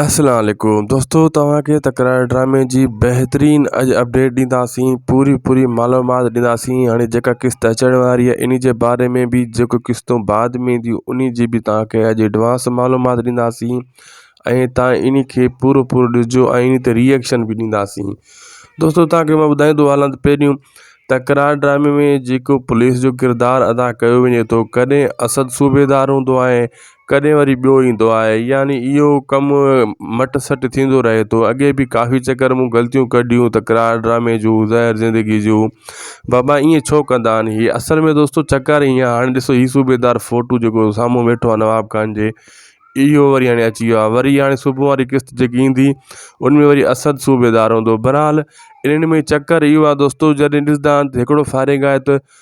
السلام عليڪم دوستو توهان کي تڪرار ڊرامي جي بهترين اڄ اپڊيٽ ڏينداسين پوري پوري معلومات ڏينداسين هاڻي جيڪا قسط اچڻ واري آهي انهي جي باري ۾ به جيڪو قسطون بعد ۾ اينديون انهي جي به توهان کي اڄ ايڊوانس معلومات ڏينداسين ۽ توهان انهي کي پورو پورو ڏسجو ۽ انهي تي ريئڪشن به ڏينداسين دوستو توهان کي مان ٻڌائيندو هلان ته پهريون تڪرار ڊرامي ۾ جيڪو پوليس جو ڪردار ادا ڪيو وڃي ٿو ڪڏهن اسد صوبيدار هوندو آهي ڪڏهن وري ٻيو ايندو آهي يعني اهو ڪم مٽ سٽ ٿيندو رهي ٿو اڳي به ڪافي چڪر مون غلطيون ڪڍيون تڪرار ڊرامي جون زهر زندگي جون بابا ائين ڇو ڪندا آهن هي اصل ۾ دوستو چڪر ائين آهي هاڻي ڏسو هي صوبيدار فوٽو جيڪو سامهون ويٺو آهي نواب خان جي اهو وري هاڻي اچي ويو آهي وري هاڻي صبح واري قسط جيڪي ايندي ان ۾ وري اسد صوبيدار هوندو بهرحال انهن ۾ چڪر اهو آهي دوستو جڏهن ڏسندا آهن ته هڪڙو فارغ آهي ته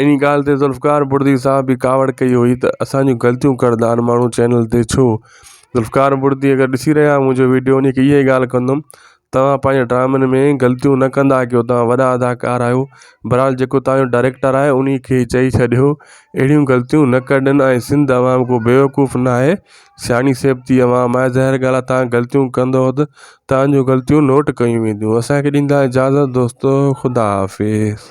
انهي ڳالهه تي ذوالفقار بڙدي صاحب به ڪاوڙ ڪئي هئي ته اسان جون غلطيون ڪردار ماڻهو چينل تي ڇو ذوالفقار بڙدي اگر ڏسي رهيا آهيو منهنجو ويڊيو وڃي ڪي اهي ڳالهه ڪندم توهان پنهنجي ڊرامن ۾ غلطيون نه ڪندا ڪيو توهان وڏا اداڪار آهيو برحال جيڪو توهان جو ڊائريڪٽر آهي انهي کي چئي ڇڏيو اهڙيون غلطيون نه ڪرن ۽ سنڌ عوام ڪو بيوقوف نه آهي سياڻي سيبتي عوام آهي ظاهر ڳالهه آهي توهان غلطيون ڪندو ته توهان جون غلطيون نوٽ ڪيون وينديون اسان کي ڏيندا اجازت دوستو خدا حافظ